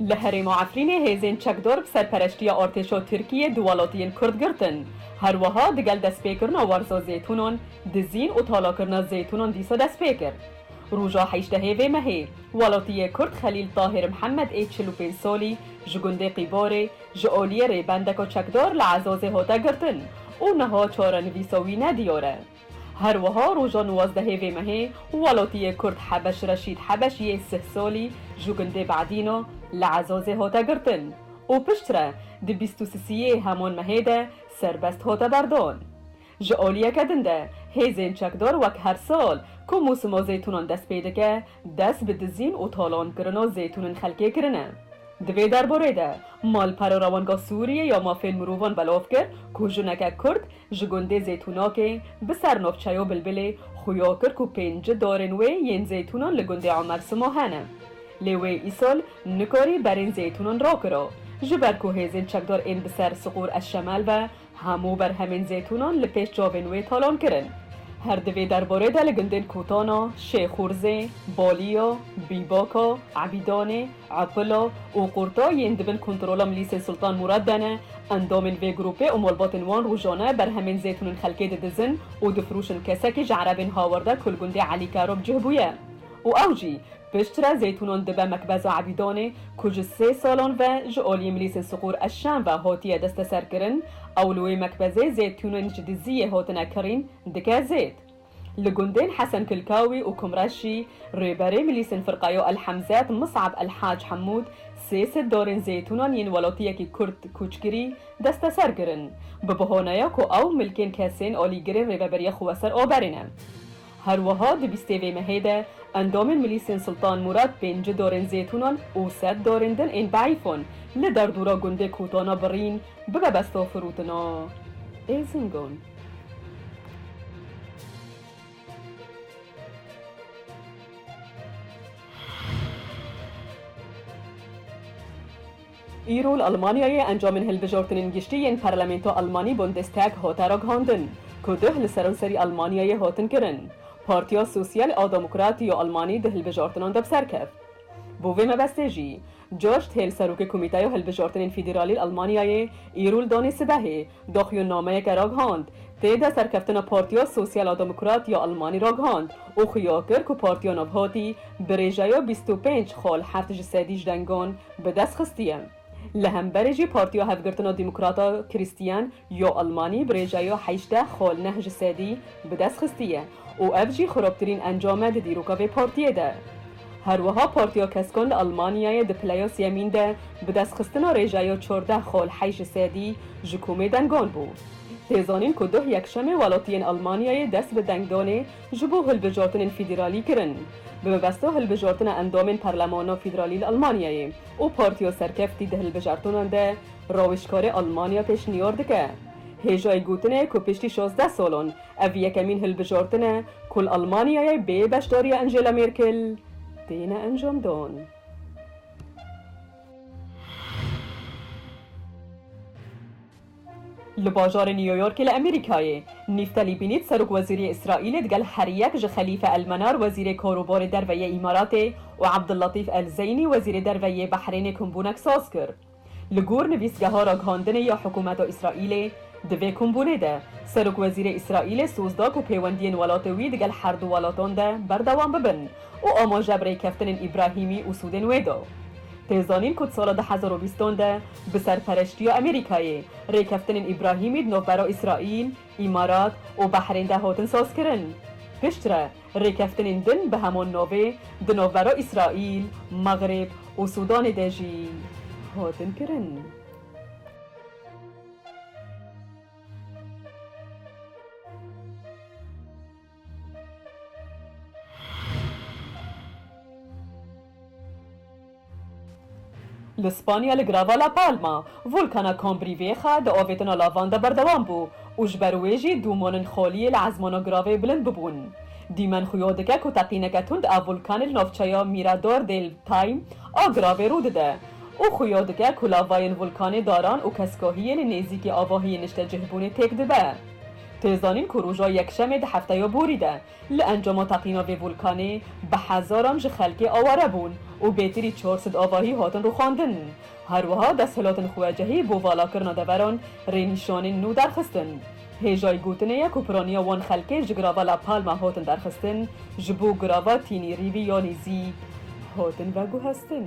Li herêma Efrînê hêzên çekdar bi serpereştiya artêşa Tirkiyê du welatiyên Kurd girtin. Her wiha digel destpêkirina werza zêtûnan, dizîn û talakirina zêtûnan dîsa dest pê kir. Roja heştehê vê mehê, welatiyê Kurd Xelîl Tahir Mihemed ê çil û pênc salî ji gundê Qîbarê ji aliyê rêbendeka çekdar li Ezazê hate girtin û niha çarenivîsa wî nediyar e. Her wiha roja nuwazdehê vê mehê welatiyê Kurd Hebeş Reşîd Hebeş yê sih salî ji gundê Badîno li Ezazê hate girtin û piştre di bîst û sisiyê heman mehê de serbest hate berdan. Ji aliyeke din de hêzên çekdar wek her sal ku mosima zeytûnan dest pê dike dest bi dizîn û talankirina zeytûnên xelkê kirine. Di vê derbarê de malpera Rewanga Sûriyê ya Mafên Mirovan belav kir ku jineke Kurd Ji gundê Zeytûnakê bi ser navçeyo Bilbilê xuya kir ku pênci darên wê yên zeytûnan li gundê Emer Sima hene. Lê wê îsal nikarî berên zeytûnan rakira. Ji ber ku hêzên çekdar ên bi ser Siqûr Eşşemel ve hemû berhemên zeytûnan li pêş çavên wê talan kirin. Her di vê derbarê de li gundên Kotana, Şêxûrzê, Baliya, Bîbaka, Ebîdanê, Aquilo û Qurto yên di bin kontrola milîsê Sultan Mûrad de ne, endomên vê grûpê û malbatên wan rojane berhemên zêtûnên xelkê didizin û difiroşin kesekî ji erebên hawerda ku li gundê Elî Karop cih bûye û ew jî piştre zêtûnan dibe Mekbeza Ebîdanê ku ji sê salan ve ji aliyê milîsên Siqûr Eşşen ve hatiye desteserkirin ew li wê mekbezê zêtûnên ji diziyê hatine kirîn dike zêt Li gundên Hesen Kilkawî û Kumreşî, Rêberê Milîsên Firqayo El Hemzet Mis'ab El Hac Hemûd sê sed dorên zeytûnan yên welatiyekî Kurd kûçkirî desteser kirin, bi bihaneya ku ew milkên kesên alîgirên rêveberiya xwe ser aberê ne. Her wiha di bîstê vê mehê de endamên Milîsên Sultan Mûrad pênci dorên zeytûnan û sed dorên din ên deîfan li derdora gundê Kotana Birîn bibe besta firûtina êzingon. Îro li Elmanyayê encamên hilbijortinên giştî yên Parlamento Elmanî Bundestag hate ragihandin ku duh li seranserî Elmanyayê hatin kirin. Partiya Sosyal a Demokrat ya Elmanî di hilbijartinan de bi ser keft. Bo vê mebestê jî George Thiel Serokê Komîteyo Hilbijartinên Federalî li Elmanyayê îro li danê sibehê dox yo nameyeke ragihand. Tê de serkeftina Partiya Sosyal a Demokrat ya Elmanî ragihand û xuya kir ku Partiya Navhatî bi rêjeya bîst û pênc xal heft ji sedî ji dengan bi dest xistiye. Li hemberê jî Partiya Hevgirtina Demokrat a Krîstiyen Yo Elmanî bi rêca yo heşteh xol neh ji sedî bi dest xistiye û ev jî xirobtirîn encam e di dîroka vê partiyê de. Her wiha Partiya Keskan li Elmanyayê di pileya sêyemîn de bi dest xistina rêca yo çardeh xol heşt ji sedî ji komê dengan bû. Tê zanîn ku duh yekşemê welatiyên Elmanyayê dest bi dengdanê ji bo hilbijartinên fîdîralî kirin bi mebesta hilbijartina endamên parlemana fîdîralî li Elmanyayê û partiya serkeftî di hilbijartinan de Rawiştkarê Elmanya pêşniyar dike, hêjayî gotinê ku piştî şazdeh salan ev yekemîn hilbijartin e ku li Elmanyayê bê beşdariya Angela Merkel têne encamdan. Li bajarê New Yorkê li Amerîkayê, Nîftelî Bînît serokwezîriyê Îsraîlê digel her yek ji Xelîfe El Menar wezîrê karobarê derve yê Îmaratê û Abdulletîf El Zeynî wezîrê derve yê Behrênê kombûnek saz kir. Li gor nivîsgeha ragihandinê ya hikûmeta Îsraîlê, di vê kombûnê de serokwezîrê Îsraîlê soz da ku pêwendiyên welatê wî digel her du welatan de berdewam bibin û amaje bi rêkeftinên Îbrahîmî û Sûdên wê da. Tê zanîn ku di sala du hezar û bîst an de bi serpereştiya Amerîkayê rêkeftinên Îbrahîmî di navbera Îsraîl, Îmarat û Behrên de hatin sazkirin. Piştre, Rêkeftinên din bi hemû navê di navbera Îsraîl, Mexreb û Sûdanê de jî hatin kirin. Li Spanya li girava La Palma, volkana Combrivieja di avêtina lavan de berdewam bû û ji ber wê jî dûmanên xaliyê li ezmana giravê bilind bibûn. Dîmen xuya dike ku teqîneke tund a volkanê li navçeya Mirador del Taim a giravê rû dide û xuya dike ku lavayên volkanê daran û keskahiyê li nêzîkî avahiyên niştecihbûnê têk dibe. Tê zanîn ku roja Yekşemê di hefteya borî de Li encama teqîna vê volkanê bi hezaran ji xelkê aware bûn û bêtirî çar sed avahî hatin rûxandin. Her wiha desthilatên xwecihî bo valakirina deveran rênîşanên nû derxistin. Hêjayî gotinê ye ku piraniya wan xelkê ji girava La Palma hatin derxistin, ji bo girava Tînî Rîvî yanî zî hatin veguhestin.